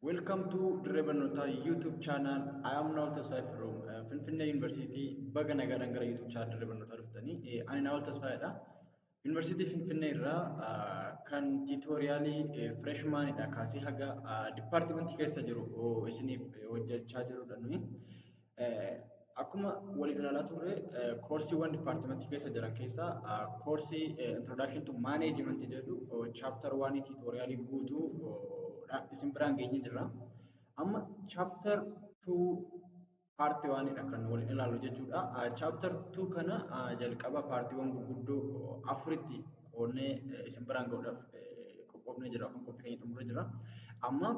Welcome to Dirree Barnootaa YouTube channel. I am Nawal Tasfaay from uh, Finfinnee University. Baga nagaadhaan gara YouTube channel Dirree Barnootaa dhuftanii. Eh, Ani Nawal Tasfaayidha. Yuunivarsiitii Finfinnee irraa ah, kan tiitooriyaalii eh, freshmanidha kaasee haga ah, dipaartimentii keessa jiru oh, isiniif eh, hojjechaa jirudha nuyi. Akkuma waliin ilaalaa turre koorsiiwwan dipaartimentii keessa jiran keessaa koorsii introduction to management jedhu chapter 1 tutorialii guutuu isin biraan geenye jirra. Amma chapter 2 part 1 dha kan waliin ilaallu jechuudha. Chapter 2 kana jalqaba paartiiwwan gurguddoo afuritti qoodnee isin biraan ga'uudhaaf qophoofnee jira kan qophii keenya xumurree jira. Amma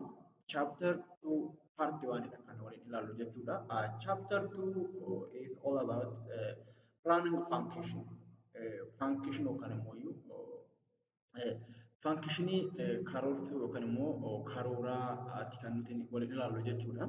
chapter 2 part 1 dha kan waliin ilaallu jechuudha. Uh, chapter 2 uh, is all about uh, planning of function. Uh, function yookaan immoo iyyuu uh, funkshinii uh, karoorsuu yookaan immoo uh, karooraa ati kan nuti waliin ilaallu jechuudha.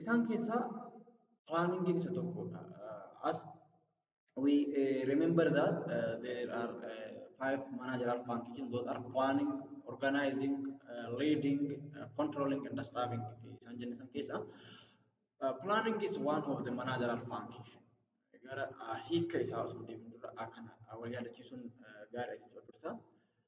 Isaan keessaa planningin isa tokkodha. As we uh, remember that uh, there are uh, five managerial functions that are planning, organizing, uh, leading, uh, controlling and staffing. Isaan jenne san keessaa uh, planning is one of the managerial functions. Gara uh, hiika isaa osoo deemin dura akkana uh, wal yaadachiisuun uh, gaariidha jechuudha dursa.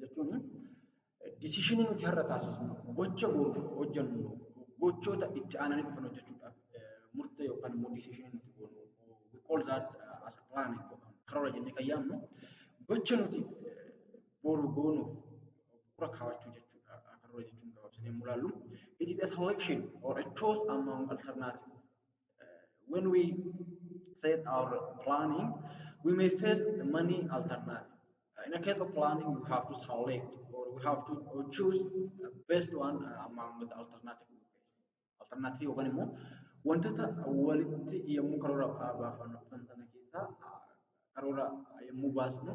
jechuun disishinii nuti har'a taasisnu gocha booruuf hojjennu gochoota itti aananii dhufan hojjechuudhaaf murtee yookaan immoo disishinii nuti goonu we call that as a plan yookaan karoora jennee kan yaamnu gocha nuti boru goonuuf bu'uura kaawachuu jechuudha karoora jechuun gabaabsinee yommuu ilaallu it is a selection or a choice among alternative when we set our planning we may face many alternatives In the case of planning, we have to select or we have to choose the best one among the alternative ways. Alternative yookaan immoo wantoota walitti yommuu karoora baafannu dhufan sana keessaa karoora yommuu baasnu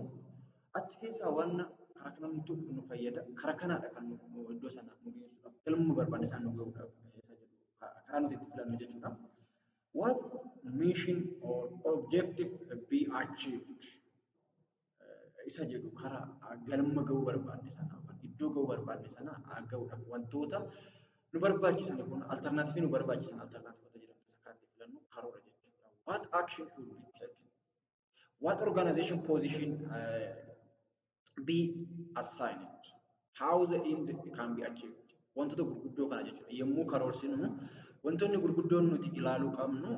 achi keessaa waan karaa kanamtu nu fayyada karaa kanaadha kan nu iddoo sana nu geessudha galma barbaanne sana nu ga'uudhaaf isa jedhu karaa nuti itti filannu jechuudha. What mission or objective be achieved? isa jedhu karaa galma ga'uu barbaanne sana yookaan iddoo ga'uu barbaanne sana ga'uudhaaf wantoota nu barbaachisan kun alternaativii nu barbaachisan alternaativota jedhamu isa kan itti filannu karoora jechuudha. What action should be taken? What organization position uh, be assigned? How the end can be achieved? Wantoota gurguddoo kana jechuudha. Yommuu karoorsinu wantoonni gurguddoon nuti ilaaluu qabnu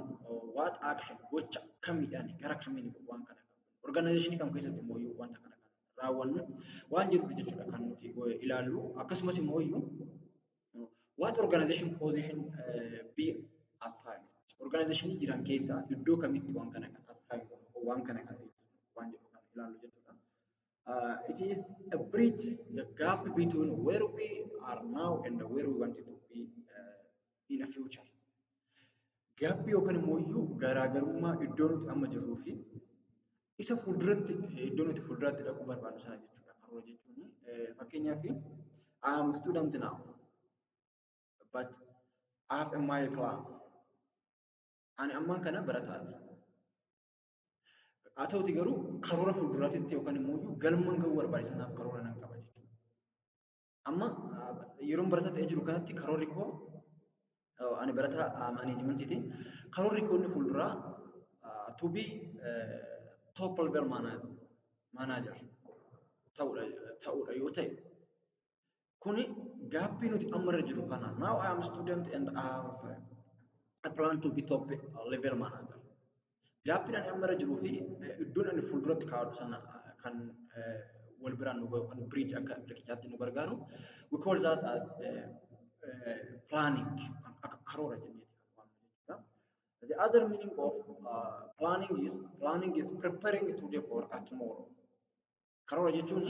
what action gocha kamiidhaan gara kamiin waan kana Orgaanaayizeshinii kam keessatti immoo iyyuu wanta kana kan raawwannu waan jedhudha jechuudha kan nuti ilaallu. Akkasumas immoo iyyuu what organization position be assigned. Orgaanaayizeshinii jiran keessaa iddoo kamitti waan kana kan assigned waan kana kan waan jedhu kan ilaallu jechuudha. Uh, it is a bridge, the gap between where we are now and where we want to be uh, in a future. Gaabbii yookaan immoo iyyuu garaagarummaa iddoo nuti amma jirruu fi isa fuulduratti iddoo nuti fuulduraatti dhaquu barbaannu sana jechuudha. Karoora jechuun fakkeenyaaf I am student now but I have a my plan. Ani ammaan kana barataadha. Haa ta'uti garuu karoora fuulduraatitti yookaan immoo iyyuu galmaan ga'uu barbaade sanaaf karoora nan qaba jechuudha. Amma yeroon barataa ta'ee jiru kanatti karoorri koo ani barataa maaneejimentiiti. Karoorri koo inni fuulduraa to be top level manager ta'uudha yoo ta'e kuni gaaffii nuti amma irra jiru kana now I am student and I have a plan to be top level manager Gaappiin ani amma irra jiruu fi iddoon ani fuulduratti kaa'adhu sana kan wal biraan nu gahu kan bridge akka riqichaatti nu gargaaru we call that as planning akka karoora jenneeti kan waamnu jechuudha. The other meaning of uh, planning is planning is preparing today for a tomorrow. Karoora jechuun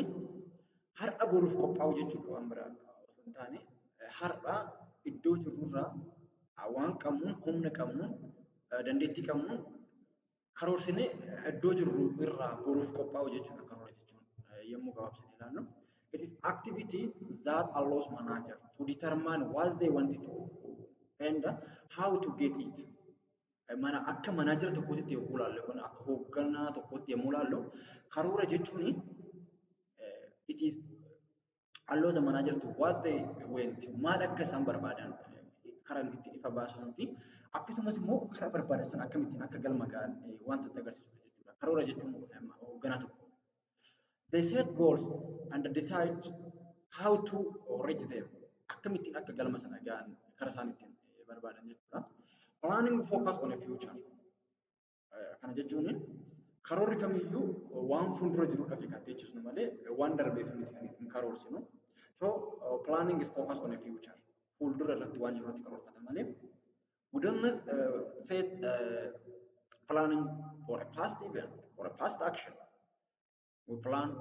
har'a boruuf qophaa'uu jechuudha waan biraa osoo hin taane har'a iddoo jirrurraa waan qabnuun humna qabnuun dandeettii qabnuun karoorsinee iddoo jirru irraa boruuf qophaa'uu jechuudha karoora jechuun yommuu gabaabsine ilaallu. It is activity that allows manager to determine what they want to do and how to get it. Mana akka manaajera tokkootti yommuu ilaallu yookaan akka hoogganaa tokkootti yommuu ilaallu karoora jechuun it is allow the manager to what they want maal akka isaan barbaadan karaa ittiin ifa baasanii fi akkasumas immoo karaa barbaadan sana akkamittiin akka galma ga'an wanta itti agarsiisu jechuudha. Karoora jechuun hoogganaa tokko They set goals and decide how to reach them. Akkamittiin akka galma sana ga'an karaa isaan ittiin eh, barbaadan jechuudha. Planning focus on a future. Eh, Kana jechuun karoorri kamiyyuu waan fuuldura jirudhaaf kan teechisnu malee waan darbeef miti kan hin karoorsinu. So eh, planning is focus on a future. Fuuldura irratti waan jiru irratti karoorfata malee within the uh, set uh, planning for a past event, for a past action. We plan,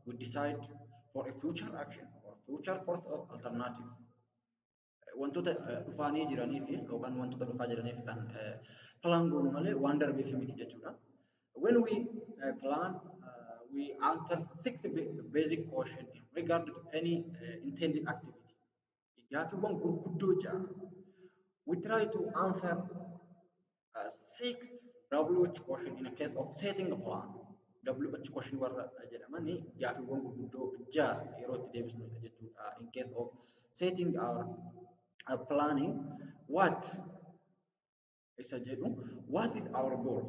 we decide for a future action or future course of alternative. Wantoota uh, dhufaanii jiranii fi yookaan wantoota dhufaa jiranii fi kan uh, plan goonu malee waan darbee fi miti jechuudha. When we uh, plan, uh, we answer six ba- basic questions in regard to any uh, intended activity. gaaffiiwwan gurguddoo ja'a. We try to answer uh, six WH question in a case of setting a plan. WH question warra jedhaman gaaffiiwwan gurguddoo ja'a yeroo itti deebisnu jechuudha. In case of setting our uh, planning, what isa jedhu what is our goal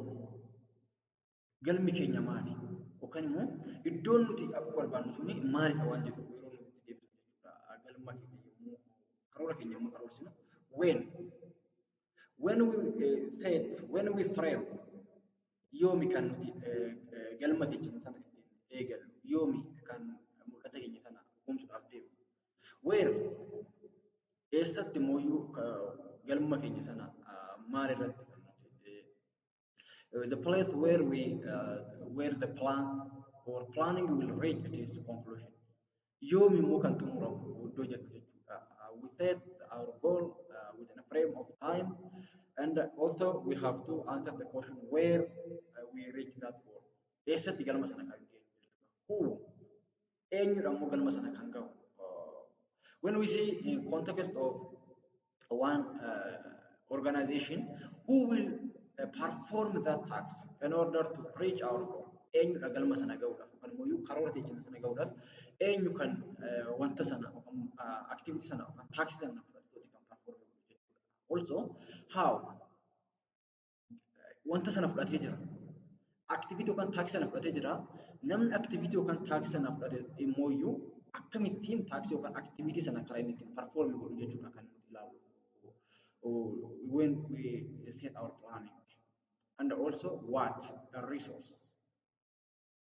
galmi keenya maali yookaan immoo iddoon nuti dhaquu barbaannu suni maalidha waan jedhu yeroo nuti itti deebisnu jechuudha galma keenya yommuu karoora keenya yommuu karoorsinu when when we uh, set when we frame yoomi kan nuti uh, uh, galma keenya sana ittiin eegallu yoomi kan mul'ata keenya sana humsuudhaaf deemnu Where eessatti mooyyuu galma keenya sana maal irratti kan nuti the place where we uh, where the plans or planning will reach its conclusion yoom immoo kan xumuramu iddoo jedhu jechuudha uh, we set our goal uh, within a frame of time and also we have to answer the question where uh, we reach that goal eessatti galma sana kan geenyu jechuudha who eenyudha immoo galma sana kan gahu. When we see in context of one uh, organization who will uh, perform that tax in order to reach our goal. Eenyudha galma sana gahuudhaaf yookaan immoo karoora teechina sana gahuudhaaf eenyu kan wanta sana yookaan activity sana yookaan tax sana fudhatu kan perform jechuudha. Also how wanta sana fudhatee jira. Aktiviitii yookaan taaksii sana fudhatee jira. Namni aktiviitii yookaan taaksii sana fudhate immoo iyyuu akkamittiin taaksii yookaan aktiviitii sana karaa inni ittiin parfoormi godhu jechuudha kan nuti ilaalu. When we set our planning and also what a resource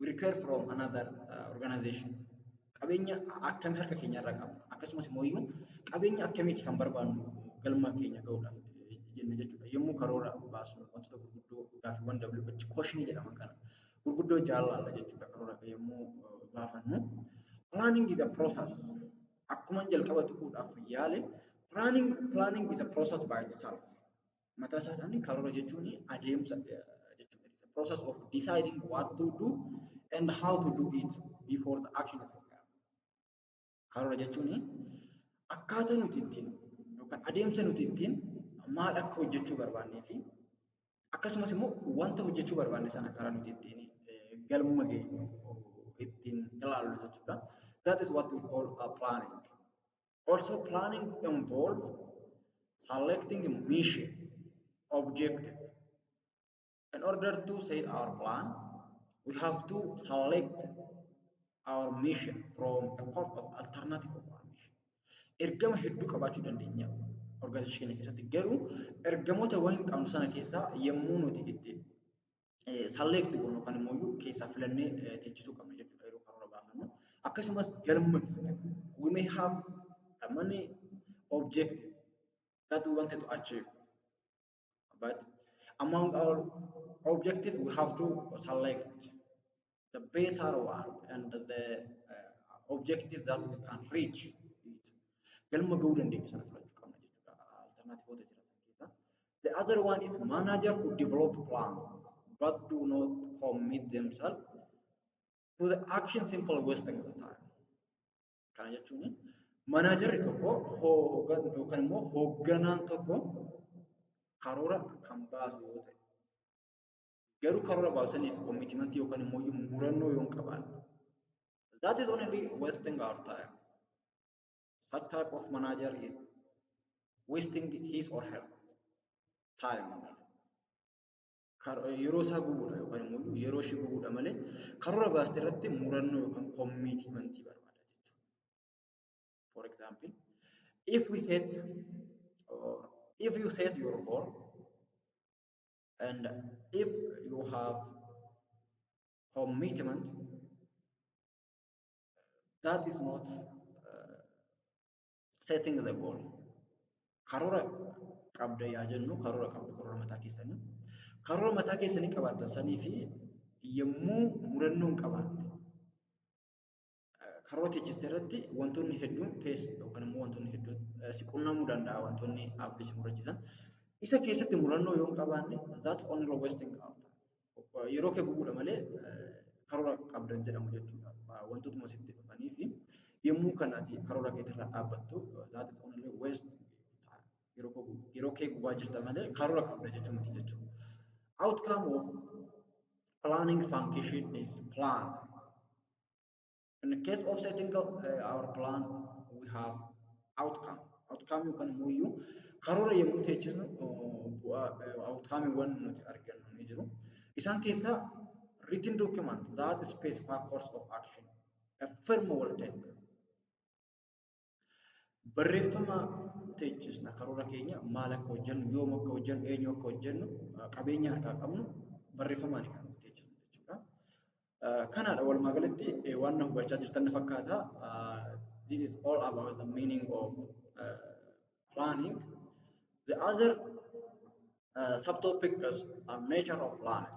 we require from another uh, organization qabeenya akkamii harka keenya irra qabna akkasumas immoo iyyuu qabeenya akkamiiti kan barbaannu galma keenya ga'uudhaaf eh, jenna jechuudha yommuu karoora baasnu wantoota gurguddoo gaaffiiwwan WH koshinii jedhaman kana gurguddoo jaalalla jechuudha karoora yommuu eh, baafannu planning is a process akkuma jalqaba tuquudhaaf yaale planning planning is a process by itself Mataa isaadhaan karoora jechuun adeemsa jechuudha. It's a process of deciding what to do and how to do it before the action is required. Karoora jechuun akkaataa nuti ittiin yookaan adeemsa nuti ittiin maal akka hojjechuu barbaannee fi akkasumas immoo wanta hojjechuu barbaanne sana karaa nuti ittiin galma geenyu ittiin ilaallu jechuudha. That is what we call a planning. Also planning involve selecting mission, objective. In order to set our plan, we have to select our mission from a corp of alternative of our mission. Ergama hedduu qabaachuu dandeenya organization keessatti garuu ergamoota waan qabnu sana keessaa yommuu nuti itti select goonu yookaan immoo iyyuu keessaa filannee teechisuu qabna jechuudha yeroo karoora baafannu. Akkasumas galma keenya we may have a money objective that we wanted to achieve but among our objective we have to select the better one and the uh, objective that we can reach it. Galma ga'uu dandeenyu sana filachuu qabna jechuudha. Alternativoota jira san keessa. The other one is manager who develop plan but do not commit themselves to the action simple wasting the time. Kana jechuun manaajarri tokko hoogan yookaan immoo hoogganaan tokko karoora kan baasu yoo ta'e Garuu karoora baasaniif commitment yookaan immoo murannoo yoo hin qabaanne. That is only wasting our time. Such type of manager is wasting his or her time. Yeroo isaa gubuudha yookaan immoo yeroo ishee gubuudha malee karoora baaste irratti murannoo yookaan commitment barbaada jechuudha. For example, if we set or if you set your goal And if you have commitment that is not uh, setting the goal. Karoora qabda yaa jennu karoora qabda karoora mataa keessanii. Karoora mataa keessanii qabaatan sanii fi yommuu murannoo hin qabaanne Karoora teechiste irratti wantoonni hedduun fees yookaan immoo wantoonni hedduun si qunnamuu danda'a wantoonni abdii si murachiisan. Isa keessatti murannoo yoo hin qabaanne that's only wasting our time. Yeroo kee gubuudha malee karoora qabdan jedhamu jechuudha. Wantootuma sitti dhufanii fi yommuu kan ati karoora keetirraa dhaabbattu that is only waste yeroo kee gubaa jirta malee karoora qabda jechuu miti jechuudha. Outcome of planning function is plan. In the case of setting up uh, our plan, we have outcome. Outcome yookaan immoo iyyuu karoora yommuu teechisnu bu'aa outcome waan nuti argannu ni jiru. Isaan keessaa written document that specify course of action. A firm will take. Barreeffama teechifna karoora keenya maal akka hojjennu, yoom akka hojjennu, eenyu akka hojjennu, qabeenya harkaa qabnu barreeffamaan kan nuti teechifnu jechuudha. Kanaadha walumaa galatti waan na hubachaa jirtan na fakkaata. This is all about the meaning of uh, planning. The other uh, subtopics are nature of planning.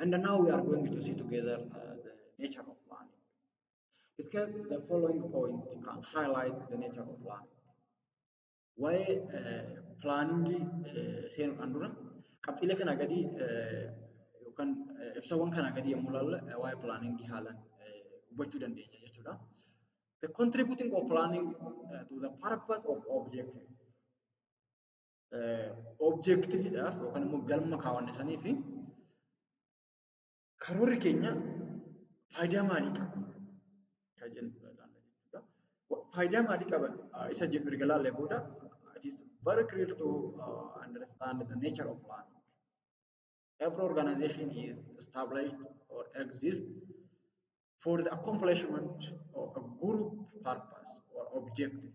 And now we are going to see together uh, the nature of learning. Discuss the following point can highlight the nature of learning. Waa'ee pilaaningii seenuudhaan dura qabxiilee kana gadii yookaan ibsawwan kana gadii yommuu ilaalle waa'ee pilaaningii haalaan hubachuu dandeenya jechuudha. The contributing of planning uh, to the purpose of objective. objektiviidhaaf yookaan immoo galma kaawwanne sanii fi karoorri keenya faayidaa maalii qaba kan jennu ilaalla jechuudha. Faayidaa maalii qaba isa jedhu erga ilaallee booda it is very clear to uh, understand the nature of planning. Every organization is established or exists for the accomplishment of a group purpose or objective.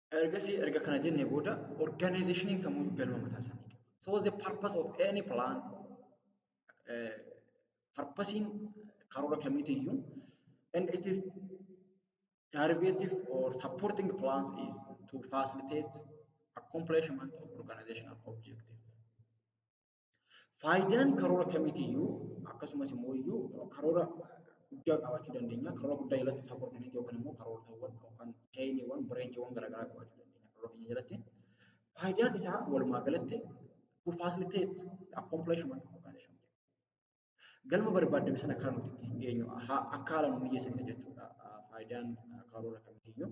Ergasii erga kana jennee booda organizationin kamuu galma mataa isaanii qabu. So the purpose of any plan purpose karoora kamiitu iyyuu and it is derivative or supporting plans is to facilitate accomplishment of organizational objective. Faayidaan karoora kamiitiyyuu akkasumas immoo iyyuu karoora guddaa qabaachuu dandeenya. Karoora guddaa jalatti isaa koordineetii yookaan immoo karoortawwan yookaan chaayiniiwwan bireenchiiwwan garaagaraa qabaachuu dandeenya karoora keenya jalatti. Faayidaan isaa walumaa galatti to facilitate the accomplishment of organization. Galma barbaadame sana kan nuti ittiin geenyu akka haala nu mijeessanidha jechuudha faayidaan karoora kamiitiyyuu.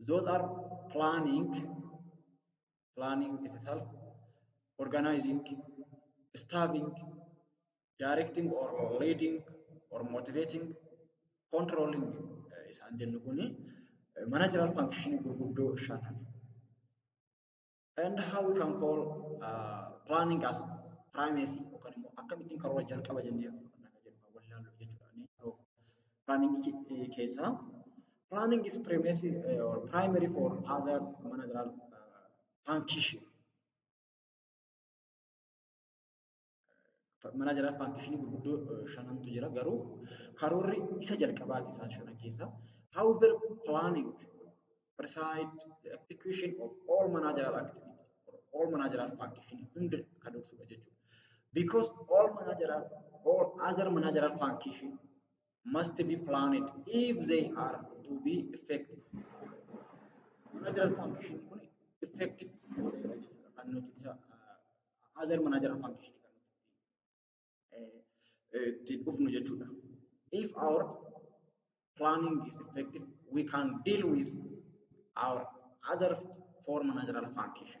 Those are planning, planning itself, organizing, staffing, directing or leading or motivating, controlling eh, isaan jennu kuni eh, managerial function gurguddoo shanan. And how we can call uh, planning as primacy yookaan immoo akkamittiin karoora jalqaba jennee fudhanna kan jedhu kan wallaallu jechuudha. Nature of planning keessaa planning is primacy uh, or primary for other managerial uh, function. manaa jalaa faankishinii gurguddoo shanantu jira garuu karoorri isa jalqabaati isaan shanan keessaa. However, planning, preside, the execution of all managerial activity or all managerial function hunda kan dursudha jechuudha. Because all managerial, all other managerial function must be planned if they are to be effective. Managerial function kun effective yoo ta'edha jechuudha kan nuti isa other managerial function kan nuti itti dhufnu jechuudha. If our planning is effective, we can deal with our other four managerial function.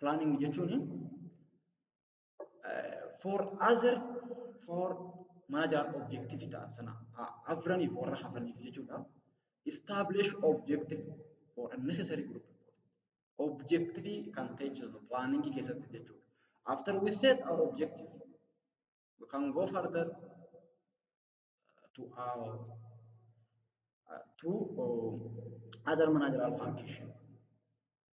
planning jechuun for other for mana jalaan objective ta'an sana afraniif warra hafaniif jechuudha. Establish objective for a necessary group of people. Objective kan ta'e jechuudha planning keessatti jechuudha. After we set our objective, we can go further to our uh, to uh, other managerial function.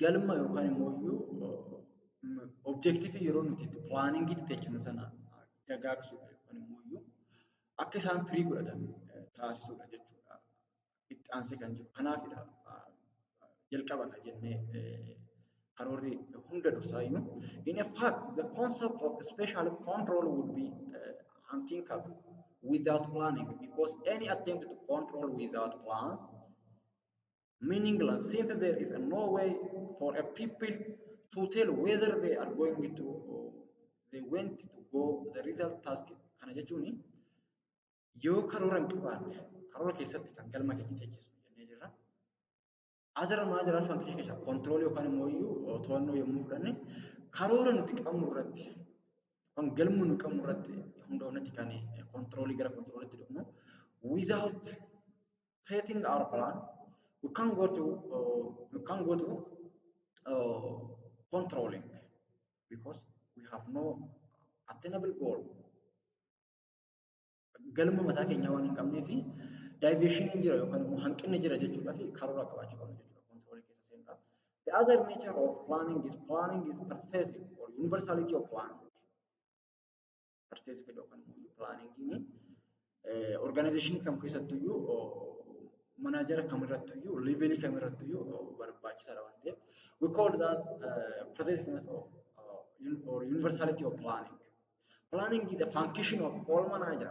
galma yookaan immoo iyyuu objektiivii yeroo nuti itti pilaaniingii itti jechinu sana dagaagsuudha yookaan immoo iyyuu akka isaan firii godhatan taasisuudha jechuudha. Itti aansee kan jiru kanaafidha jalqaba kan jennee karoorri hunda dursaa iyyuu. In fact, the concept of special control would be uh, unthinkable without planning because any attempt to control without plans meaningless since there is no way for a people to tell whether they are going to uh, they went to go the result task kana jechuun yoo karoora hin qabaanne karoora keessatti kan galma keenya teechisu jennee jirra. Azara maa jira fankishii keessa kontiroolii yookaan immoo iyyuu to'annoo yommuu fudhanne karoora nuti qabnu irratti yookaan galma nu qabnu irratti hundoofnetti kan kontiroolii gara kontiroolitti dhufnu without setting our plan, we can go to uh, we can go to uh, controlling because we have no attainable goal. Galma mataa keenyaa waan hin qabnee fi diversion hin jira yookaan immoo hanqinni jira jechuudhaa fi karoora qabaachuu qabna jechuudha controlling keessa seenuudhaaf. The other nature of planning is planning is pervasive or universality of planning. Arsiis fedha yookaan immoo pilaaniingiin orgaanayizeeshinii kam keessattuu iyyuu manaajara kam irrattuu iyyuu leeveelii kam irrattuu iyyuu barbaachisaadha waan ta'eef we call that uh, pervasiveness of uh, or universality of planning. Planning is a function of all manager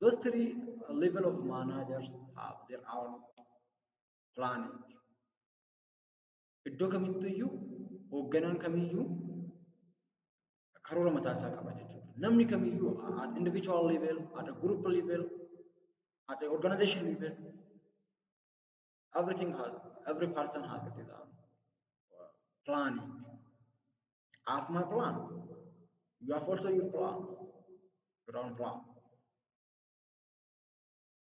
Those three level of managers have their own planning. Iddoo kamittuyyuu hoogganaan kamiyyuu karoora mataa isaa qaba jechuudha. Namni kamiyyuu at individual level, at a group level, at a organization level everything has every person has it is planning I have my plan you have also your plan your own plan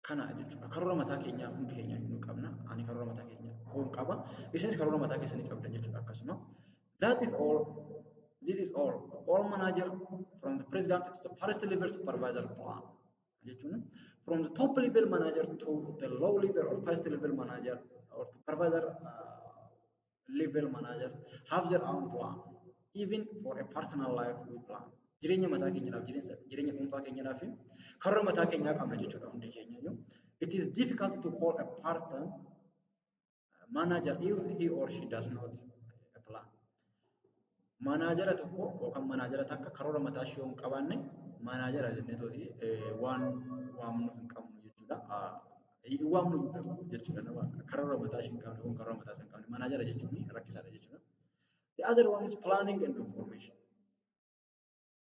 kana jechuudha karoora mataa keenyaa hundi keenya nu qabna ani karoora mataa keenya koon qaba isinis karoora mataa keessanii qabdan jechuudha akkasuma that is all this is all all manager from the president to the first level supervisor plan jechuun from the top level manager to the low level or first level manager or to provider uh, level manager have their own plan even for a personal life we plan jireenya mataa keenyaaf jireenya jireenya dhuunfaa keenyaaf karra mataa keenyaa qabna jechuudha hundi keenya iyyuu it is difficult to call a person manager if he or she does not make a plan. Manaajara tokko yookaan manaajara takka karoora mataa ishee yoo hin qabaanne manaajara jennee tooti waan waamnuuf hin qabnu jechuudha. Hin waamnu jechuudha nama karoora mataa ishee hin qabne yookaan karoora mataa isaa hin qabne manaajara jechuun rakkisaadha jechuudha. The other one is planning and information.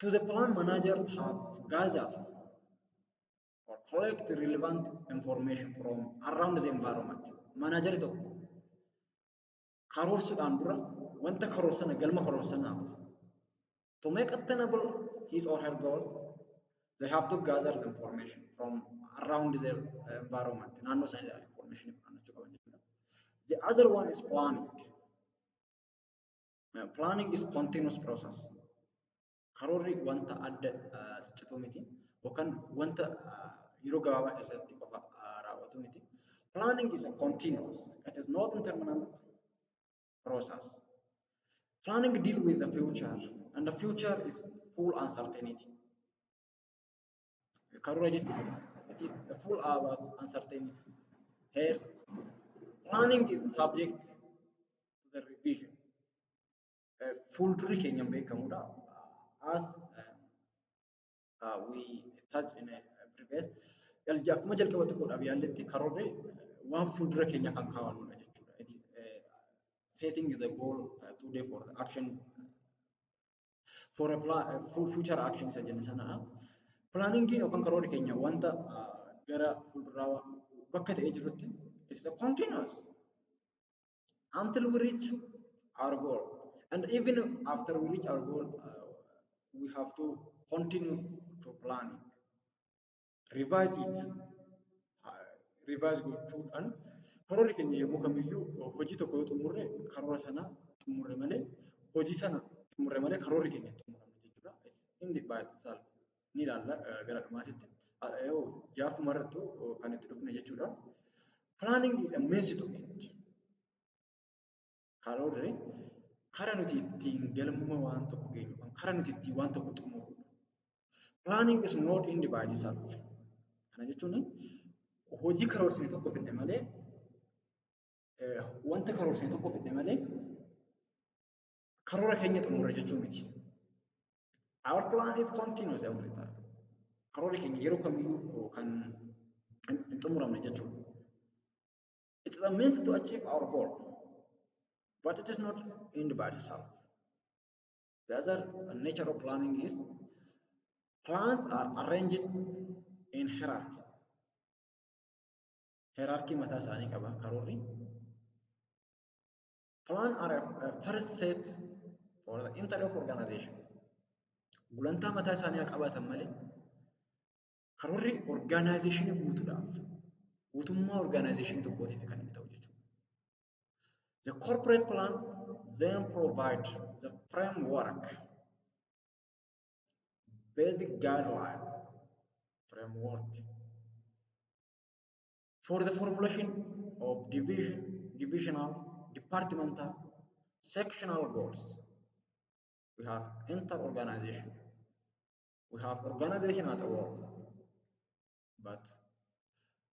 To the plan manager have gather or collect the relevant information from around the environment. Manager tokko karoorsuudhaan dura wanta karoorsana galma karoorsanaaf to make attainable his or her goal they have to gather the information from around the environment. Naannoo isaanii information fudhachuu qaban jechuudha. The other one is planning. Planning is continuous process. Karoorri wanta adda ciccituu miti yookaan wanta yeroo gabaabaa keessatti qofa raawwatu miti. Planning is a continuous, it is not intermittent process. Planning deal with the future and the future is full uncertainty. Karoora jechuun it is the full about uncertainty. Here, planning is subject to the revision. Eh, Fuuldurri keenya hin beekamudha. As eh, uh, we touch in a previous jalja akkuma jalqaba xiqqoodhaaf yaalletti karoorri eh, waan fuuldura keenya kan kaa'annudha jechuudha. It is, eh, Setting the goal eh, today for the action For a plan, for future action isa jenna sana. Planningiin yookaan karoorri keenya wanta gara fuulduraa bakka ta'ee jirutti it is a continuous until we reach our goal and even after we reach our goal uh, we have to continue to planning. revise it revise gochuudhaan karoorri keenya yommuu kamiyyuu hojii tokko yoo xumurre karoora sana xumurre malee hojii sana xumurre malee karoorri keenya hin xumuramu jechuudha. Inni baay'isaal ni ilaalla gara dhumaatitti. Jaafuma irrattu kan itti dhufne jechuudha. Planning is a means to end. Karoorri kara nuti ittiin galma waan tokko geenyu kan kara nuti ittiin waan tokko xumurudha. Planning is not end by itself. Kana jechuun hojii karoorsine tokko fidne malee wanta karoorsine tokko fidne malee karoora keenya xumurre jechuu miti. Our plan is continuous every time. Karoora keenya yeroo kamiyyuu kan hin xumuramne jechuudha. It is a means to achieve our goal, but it is not end by itself. The other nature of planning is plans are arranged in hierarchy. Hierarchy mataa isaanii qaba karoorri. Plan are a first set for the entire of organization. Gulantaa mataa isaanii haa qabaatan malee Karoorri orgaanaayizeeshinii guutuudhaaf guutummaa orgaanaayizeeshinii tokkootiif kan inni ta'u jechuudha. The corporate plan then provide the framework, basic guideline framework for the formulation of division, divisional, departmental, sectional goals. We have inter-organization we have organization as a whole but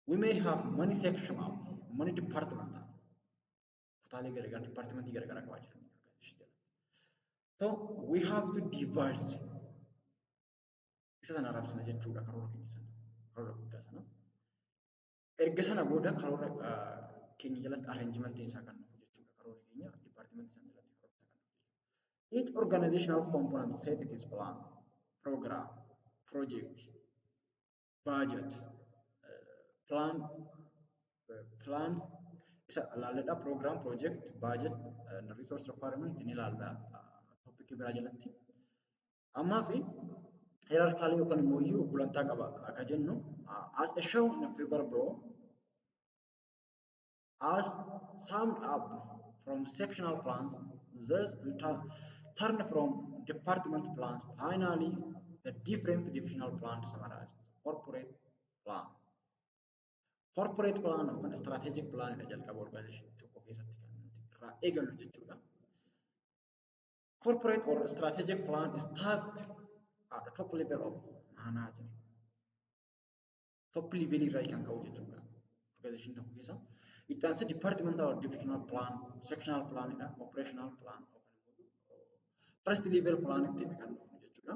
we may have many sectional many departmental kutaalee garagaraa departmentii garagaraa qabaa jiru so we have to divide isa sana arabsina jechuudha karoora keenya sana karoora guddaa sana Erga sana booda karoora keenya jalatti arrangementiin isaa kan dhufu jechuudha. Karoora keenya dipaartimentii sana jalatti karoora isaa kan dhufu jechuudha. Each organizational component set its plan, program, project, budget, plan, plan isa ilaalladha. Program, project, budget, and resource requirement ni ilaalla. Topic biraa jalatti. Ammaaf hierarchically yookaan immoo iyyuu gulantaa qaba akka jennu as a shown in a figure below as summed up from sectional plans thus in turn, turn from department plans finally the different divisional plans summarized corporate plan corporate plan yookaan strategic plan dha jalqaba organization tokko keessatti kan nuti irraa eegallu jechuudha. Corporate or strategic plan is tagged at the top level of manager. Top level irraa kan ka'u jechuudha. Organization tokko keessa. Itti aansee departmental or divisional plan, sectional plan dha, operational plan. First level plan itti kan dhufu jechuudha.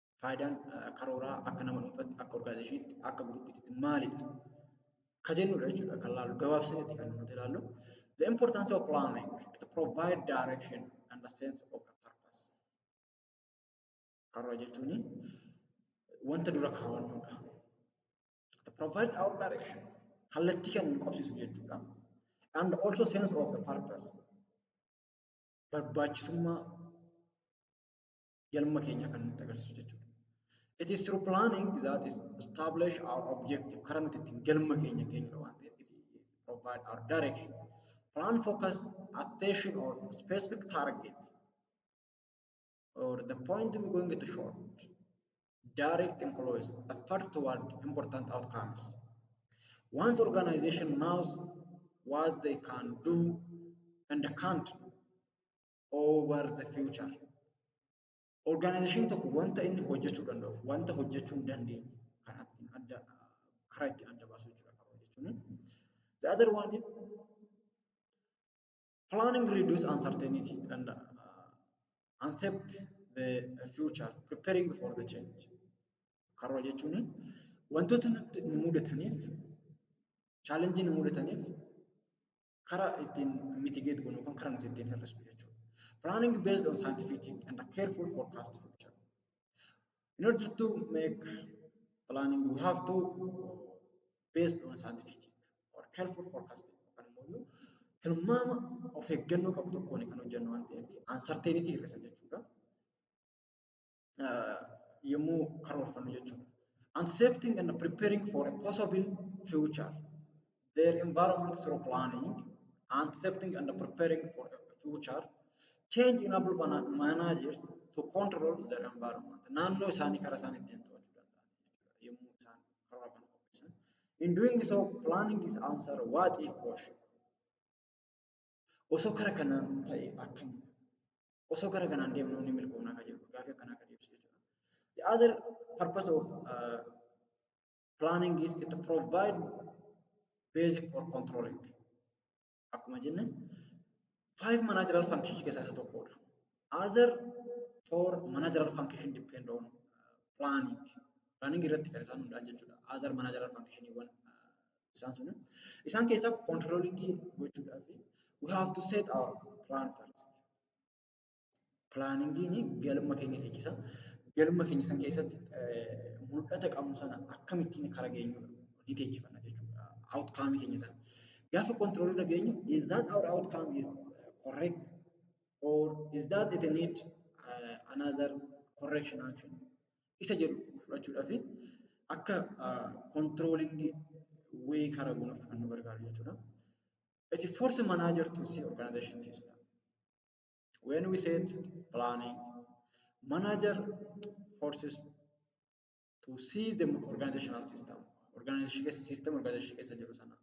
faayidaan karooraa akka nama dhuunfaatti akka orgaanaayizeshiniitti akka guruppiitti maalidha ka jennudha jechuudha kan laallu gabaabsinetti kan nuti laallu the importance of planning it provide direction and a sense of a purpose karoora jechuun wanta dura kaawwannudha it provide our direction kallattii kan nu qabsiisu jechuudha and also sense of a purpose barbaachisummaa galma keenya kan nutti agarsiisu jechuudha. It is through planning that is establish our objective karaa nuti ittiin galma keenya keenyudha waan ta'eef it provide our direction. Plan focus attention on specific target or the point we going to short direct employees effort toward important outcomes. Once organization knows what they can do and can't do, over the future. Organization tokko wanta inni hojjechuu danda'uuf wanta hojjechuu hin dandeenye kan ittiin adda karaa ittiin adda baasu jechuudha karoora jechuun. The other one is planning reduce uncertainty and uh, accept the future preparing for the change. Karoora jechuun wantoota nutti nu mudataniif chaalenjii nu mudataniif karaa ittiin mitigate goonu yookaan karaa nuti ittiin hir'isnu jechuudha. Planning based on scientific thinking and a careful forecast future. In order to make planning we have to based on scientific or careful forecasting yookaan immoo tilmaama of eeggannoo qabu tokkoon kan hojjennu waan ta'eef uncertainty hir'isa jechuudha. yommuu karoorfannu jechuudha. Anticipating and preparing for a possible future. Their environment through planning, anticipating and preparing for a future. Change enable managers to control their environment. Naannoo isaanii karaa isaan ittiin to'achuu danda'an jechuudha. Yommuu isaan karoora kana qopheessan. In doing so, planning is answer what if question. Osoo kara kanaan ta'e akkami? Osoo kara kanaan deemnu ni milkoofna kan jedhu gaaffii akkanaa kan deebisu jechuudha. The other purpose of uh, planning is it provide basic for controlling. Akkuma jenne five managerial functions keessaa isa tokkodha. Other four managerial function depend on uh, planning. Planning irratti kan isaan hundaan jechuudha. Other managerial functioniiwwan uh, Isaan sun isaan keessaa controlling gochuudhaa fi we have to set our plan first. Planingiin galma keenya teechisa. Galma keenya san keessatti mul'ata qabnu sana akkamittiin kara geenyu ni teechifanna jechuudha. Outcome keenya sana. Gaafa control irra geenyu is that our outcome is correct or is that it need uh, another correction action isa jedhu fudhachuudhaaf akka kontiroolitti wee karaa gonuuf kan nu gargaaru jechuudha. It is force manager to see organization system. When we set planning, manager forces to see the organizational system. Organization system organization keessa jiru sana.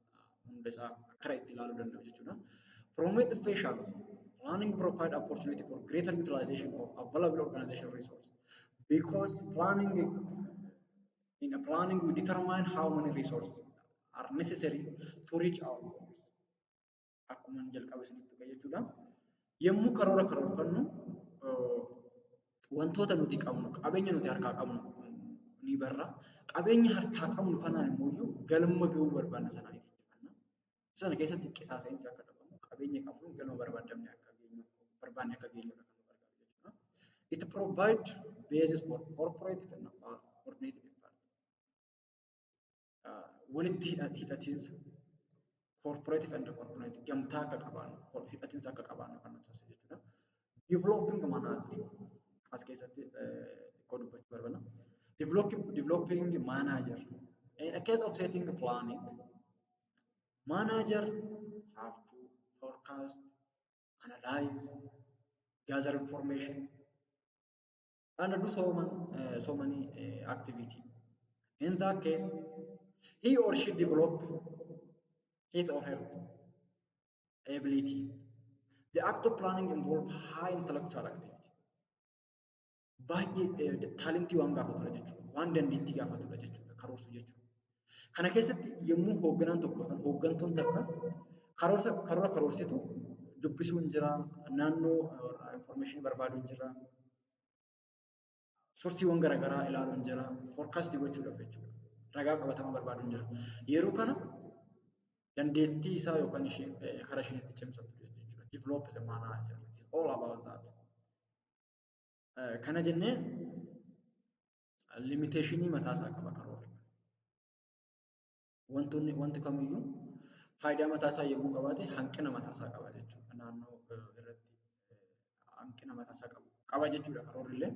hunda isaa akkara itti ilaaluu danda'u jechuudha. Promote efficiency, planning provide opportunity for greater utilization of available organization resource because planning in a planning we determine how many resources are necessary to reach our goals. akkuma jalqaba isinitti tuqe jechuudha. Yommuu karoora karoorfannu wantoota nuti qabnu qabeenya nuti harkaa qabnu ni barra. Qabeenya harkaa qabnu kanaan immoo iyyuu galma ga'uu barbaanna sana ni fiddifanna. Sana keessatti qisaasa'insi akka dhabamu qabeenya qabnu galma barbaadamne akka geenyu barbaanne akka geenyu kan nu gargaaru jechuudha. It provide basis for corporate and coordinated effort. walitti hidhatiinsa corporative and corporate gamtaa akka qabaannu hidhatiinsa akka qabaannu kan nuti taasisu jechuudha. Developing manager as keessatti xiqqoo dubbachuu barbaada. Developing manager in a case of setting planning manager have to forecast, analyze, gather information and do so, man, uh, so many uh, activity. In that case, he or she develop his or her ability. The act of planning involve high intellectual activity. Baay'ee taalentii waan gaafatudha jechuudha. Waan dandeettii gaafatudha jechuudha. Karoorsuu jechuudha. Kana keessatti yommuu hoogganaan tokko yookaan hooggantuun takka karoorsa karoora karoorsitu dubbisuun jira, naannoo information barbaaduun jira, soorsiiwwan garaagaraa ilaaluun jira, forecast gochuudhaaf jechuudha. Ragaa qabatamaa barbaaduun jira. Yeroo kana dandeettii isaa yookaan ishee karaa isheen itti cimsattu jechuudha. Develop the manager. It is all about that. Kana jennee limiteeshinii mataa isaa qaba karoorri. Wantoonni wanti kamiyyuu faayidaa mataa isaa yommuu qabaate hanqina mataa isaa qaba jechuudha. Naannoo irratti hanqina mataa isaa qabu qaba jechuudha karoorri illee.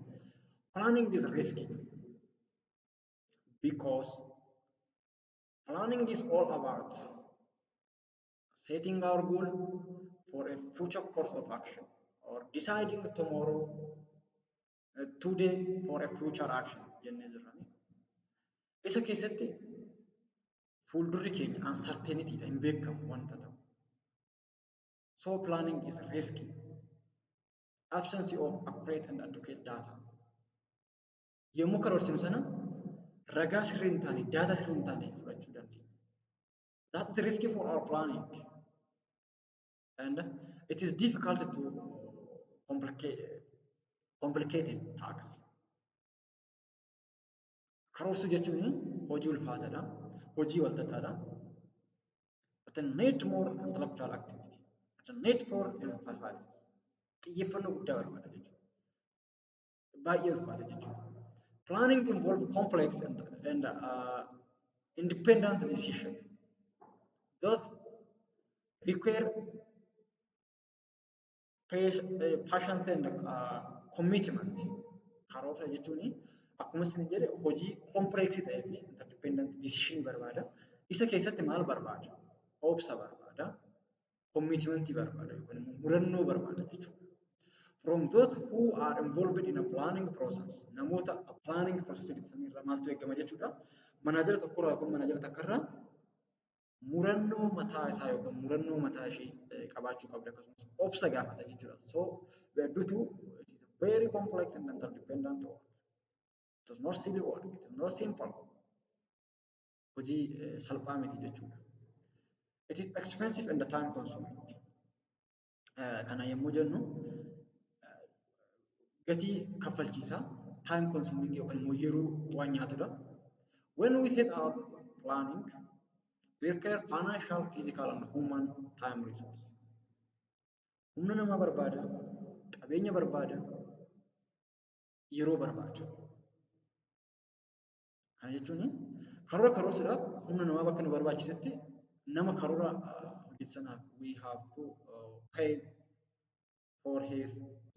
Planning is risky because planning is all about setting our goal for a future course of action or deciding tomorrow today for a future action jennee jirrani. Isa keessatti fuuldurri keenya uncertainty dha hin beekamu wanta ta'u. So planning is risky. Absence of accurate and adequate data. Yommuu karoorsinu sana ragaa sirrii hin taane, daataa sirrii hin taane fudhachuu dandeenya. That is risky for our planning. and it is difficult to complicate complicated tax. Karoorsuu jechuun hojii ulfaataadha, hojii walxaxaadha. But it need more intellectual activity. It need for emphasis. Xiyyeeffannoo guddaa barbaada jechuudha. baay'ee ulfaata jechuudha. Planning involve complex and, and uh, independent decision that require passion and uh, commitment. Karoora jechuun akkuma isin jedhe hojii complex ta'ee fi interdependent decision barbaada. Isa keessatti maal barbaada? Obsa barbaada. commitment barbaada yookaan immoo murannoo barbaada jechuudha. From those who are involved in a planning process namoota a planning process jedhan irraa maaltu eegama jechuudha. Manaajara tokkorraa yookaan manaajara takkarraa murannoo mataa isaa yookaan murannoo mataa ishee qabaachuu qabda akkasumas obsa gaafata jechuudha. So we are due to it is a very complex and interdependent work. It is not silly work. It is not simple. hojii salphaa miti jechuudha. It is expensive and time consuming. Kana yommuu jennu gatii kaffalchiisaa time consuming yookaan immoo yeroo waan nyaatudha. When we set our planning, we require financial, physical and human time resource. Humna namaa barbaada, qabeenya barbaada, yeroo barbaada. Kana jechuun karoora karoorsuudhaaf humna namaa bakka nu barbaachisetti nama karoora hojjetu sanaaf we have to uh, pay for his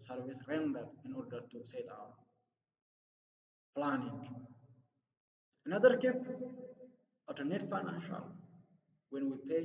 service rendered in order to set our planning. In other case, alternate financial when we pay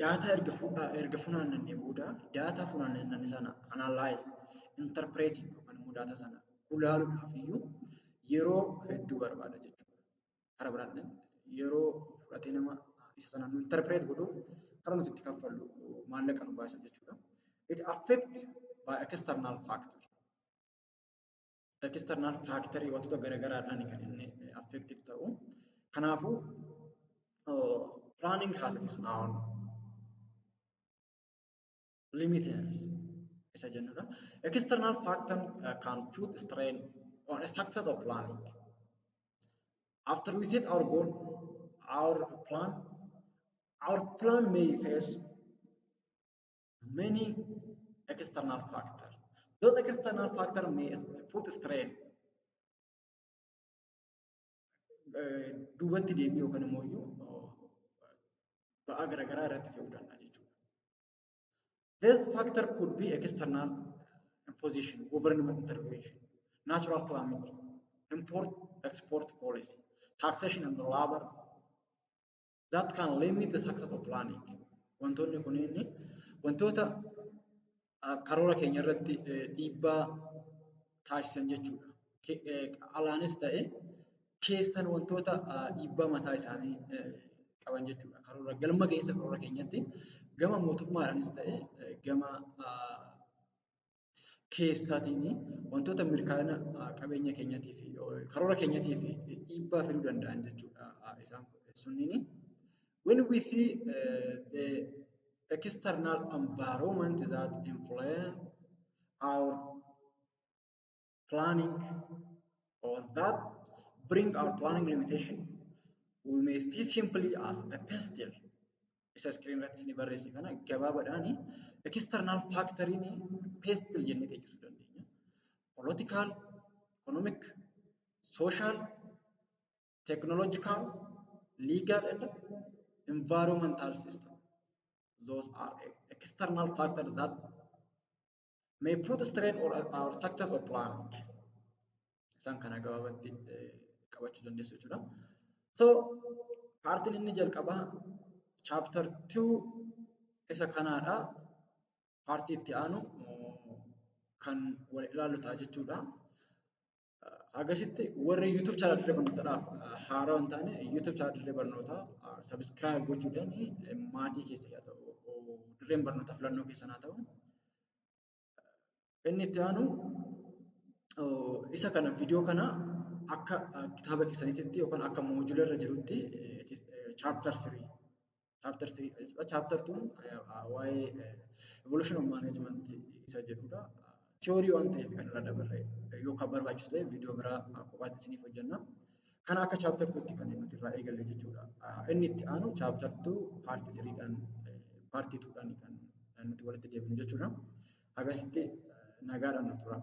daataa erga fu- erga funaannannee booda daataa funaannanne sana analyze, interpreting yookaan immoo daataa sana gulaaluudhaaf iyyuu yeroo hedduu barbaada jechuudha. Kara biraatiin yeroo fudhatee nama isa sana nu interpret godhuuf kara nuti itti kaffallu maallaqa nu baasa jechuudha. It affect by external factor. external factor wantoota garaagaraadhaan kan inni affected ta'u. Kanaafuu planning has its own limitations isa jennudha. External factor uh, can put strain on a success of planning. After we set our goal, our plan, our plan may face many external factor. Those external factor may put strain. Duubatti deebi'ee yookaan immoo iyyuu ba'aa garaagaraa irratti fe'uu danda'a jechuudha. This factor could be external imposition, government intervention, natural calamity, import export policy, taxation and labor that can limit the success of planning. Wantoonni kunniin wantoota karoora keenya irratti dhiibbaa taasisan jechuudha. Alaanis ta'e keessan wantoota dhiibbaa mataa isaanii qaban jechuudha. Karoora galma ga'iinsa karoora keenyatti gama mootummaadhaanis ta'e gama keessaatiin wantoota mirkaana qabeenya keenyatii fi karoora keenyatii fi dhiibbaa fiduu danda'an jechuudha isaan sunniin. When we see uh, the external environment that influence our planning or that bring our planning limitation we may see simply as a pastel isa screen irratti ni barreesse kana gabaabadhaan external factory ni pastel jennee teessisuu dandeenya political economic social technological legal and environmental system those are external factors that may put strain or, or success of plan. Isaan kana gabaabatti qabachuu dandeessu jechuudha. So, paartiin inni jalqabaa chapter 2 isa kanaadha. Paartii itti aanu kan wal ilaallu ta'a jechuudha. Agasitti warri YouTube channel dirree barnootaadhaaf haaraa hin taane YouTube channel dirree barnootaa subscribe gochuudhaan maatii keessa yaa ta'u dirreen barnootaa filannoo keessan haa ta'u. Inni itti aanu isa kana viidiyoo kana akka kitaaba keessaniitti yookaan akka moojula irra jirutti chapter 3 Chapter 3 jechuudha. Chapter 2 waa'ee evolution of management isa jedhudha. Theory waan ta'eef kan irra dabarre yoo kan barbaachisu ta'e viidiyoo biraa kophaatti isiniif hojjenna. Kana akka chapter 2 tti kan nuti irraa eegalle jechuudha. Inni itti aanu chapter 2 part 3 dhaan part 2 dhaan kan nuti walitti deebinu jechuudha. Hagasitti nagaadhaan nu turaa.